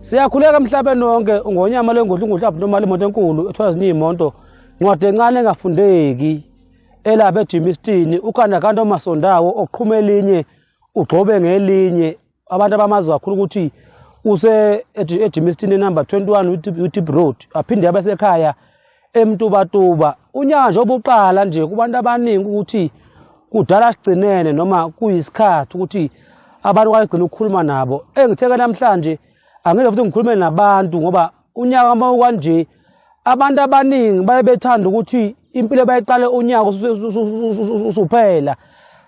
Siyakhuleka emhlabeni wonke ngonyama lengodla ingudla abnormal imoto enkulu ethiwa ziningi imonto ncwadi encane engafundeki elapha ejimistini ukhanda kanti omasondawo oqhuma elinye ugxobe ngelinye abantu abamazi kakhulu ukuthi use ejimistini enumber 21 utip road aphinde abesekhaya emtubatuba unyanja obuqala nje kubantu abaningi ukuthi kudala sigcinene noma kuyisikhathi ukuthi abantu kwagcina ukukhuluma nabo engitheke namhlanje angeke futhi ngikhulume nabantu ngoba unyaka uma ukwanje abantu abaningi baye bethanda ukuthi impilo bayiqale unyaka usuphela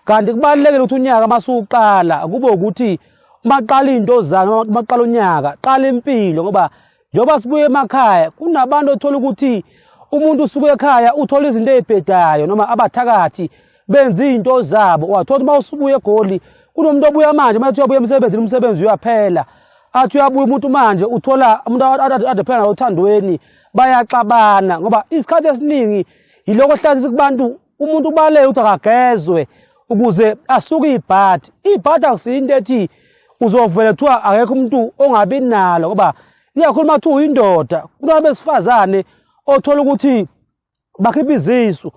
kanti kubalulekile ukuthi unyaka uma suwuqala kube ukuthi uma qala iy'nto zami uma qala unyaka qala impilo ngoba njengoba sibuye emakhaya kunabantu othola ukuthi umuntu usuke ekhaya uthola izinto ezibhedayo noma abathakathi benza izinto zabo wathola uma usubuye egoli kunomuntu obuya manje uma uyabuya emsebenzini umsebenzi uyaphela athi uyabuya umuntu manje uthola umuntu ade phela nawo othandweni bayaxabana ngoba isikhathi esiningi yiloko hlazisa kubantu umuntu ubaleke ukuthi akagezwe ukuze asuke ibhadi ibhadi akusiyinto ethi uzovele kuthiwa akekho umuntu ongabi nalo ngoba iyakhulu uma kuthiwa uyindoda kunabesifazane othola ukuthi bakhipha izisu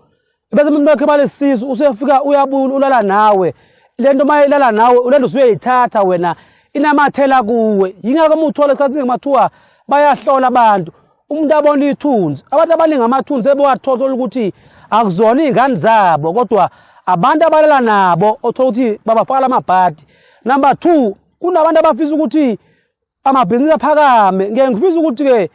bese umuntu bakhe balesisu usefika uyabula ulala nawe lento uma ilala nawe ulento usuyayithatha wena inamathela kuwe yingakho uma uthola esikhathini ngemathiwa bayahlola abantu umuntu abona ithunzi abantu abaningi amathunzi ebewathola ukuthi akuzona iy'ngane zabo kodwa abantu abalela nabo othola ukuthi babafakala amabhadi number two kunabantu abafisa ukuthi amabhizinisi aphakame ngeke ngifisa ukuthi-ke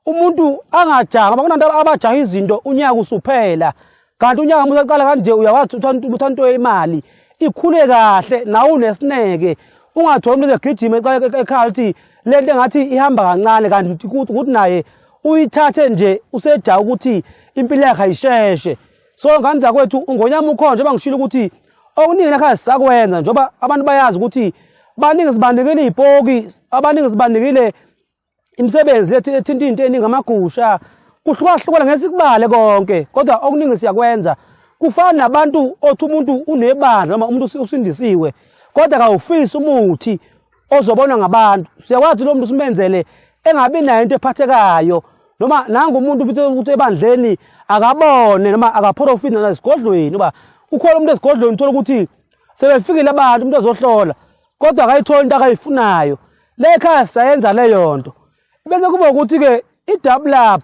umuntu angajahwa ngoba kunanto abajaha izinto unyaka usuphela kanti unyaka musa qala kanje uyawathi uthanto imali ikhule kahle nawe unesineke ungatholi umuntu ezegijima ekhaya ukuthi le nto engathi ihamba kancane kanti ukuthi naye uyithathe nje useja ukuthi impilo yakhe ayisheshe so ngani zakwethu ungonyama ukhona njengoba ngishilo ukuthi okuningi nakhazi sakwenza njengoba abantu bayazi ukuthi baningi sibandikile iy'poki abaningi sibandikile Imisebenzi lethu ethinta into eningi amagusha kuhlukahlukana ngesikubale konke kodwa okuningi siyakwenza kufana nabantu othi umuntu unebandla noma umuntu usindisiwe kodwa kawufisi umuthi ozobonwa ngabantu siyakwazi lo muntu simenzele engabi nayo into ephathekayo noma nangu umuntu ukuthi ebandleni akabone noma akaphorofiti nasigodlweni uba ukhona umuntu esigodlweni uthola ukuthi sebefikile abantu umuntu ezohlola kodwa akayitholi into akayifunayo le khaya sayenza leyo nto bese kuba ukuthi-ke i-double up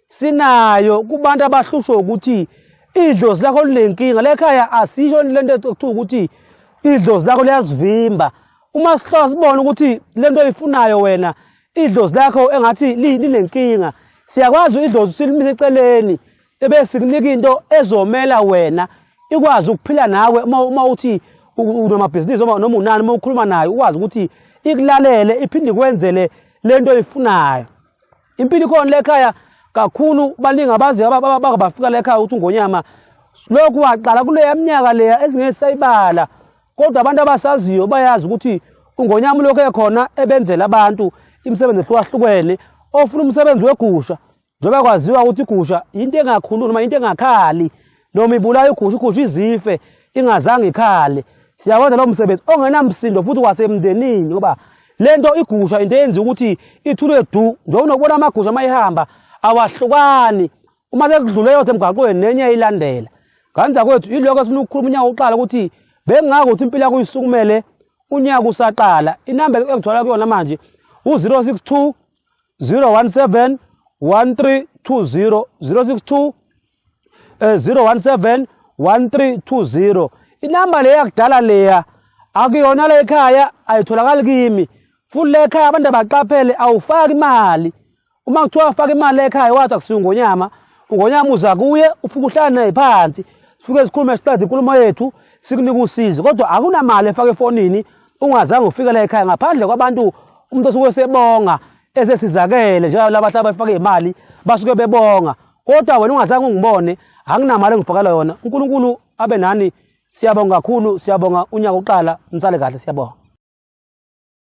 sinayo kubantu abahlushwe ukuthi idlozi lakho linenkinga le khaya asisho le nto ekuthiwa ukuthi idlozi lakho liyazivimba uma sihlola sibona ukuthi le nto oyifunayo wena idlozi lakho engathi linenkinga siyakwazi idlozi silimise eceleni Ebe sikunika into ezomela wena ikwazi ukuphila nawe uma uma uthi unamabhizinisi noma noma unani uma ukhuluma naye ukwazi ukuthi ikulalele iphinde kwenzele lento oyifunayo. Impilo ikhona le ekhaya kakhulu baningi abazi abangabafika la ekhaya ukuthi ungonyama lokhu waqala kuleya minyaka leya ezingesayibala kodwa abantu abasaziyo bayazi ukuthi ungonyama ulokhu ekhona ebenzela abantu imisebenzi ehlukahlukene ofuna umsebenzi wegusha Njengoba kwaziwa ukuthi igusha into engakhulu noma into engakhali noma ibulayo igusha igusha izife ingazange ikhale siyawenza lo msebenzi ongenamsindo futhi kwasemndenini ngoba le nto igusha into eyenza ukuthi ithulwe du njengoba unokubona amagusha uma ihamba awahlukani uma sekudlule yothe emgaqweni nenye ilandela nganza kwethu yiloko esifuna ukukhuluma unyaka uqala ukuthi bengingako ukuthi impilo yakho isukumele unyaka usaqala inamba engithola kuyona manje u-062 017 1320 062 eh 017 1320 inamba leya yakudala leya akuyona le ekhaya ayitholakali kimi futhi le ekhaya abantu abaqaphele awufaki imali uma kuthiwa ufaka imali le ekhaya wathi akusiyo ngonyama ungonyama uza kuye ufike uhlala naye phansi sifike sikhulume siqede inkulumo yethu sikunike usizi kodwa akunamali efaka efonini ungazange ufike la ekhaya ngaphandle kwabantu umuntu osuke esebonga esesizakele njengoba labantu abafake imali basuke bebonga kodwa wena ungazange ungibone anginamali engifakela yona uNkulunkulu abe nani siyabonga kakhulu siyabonga unyaka uqala nisale kahle siyabonga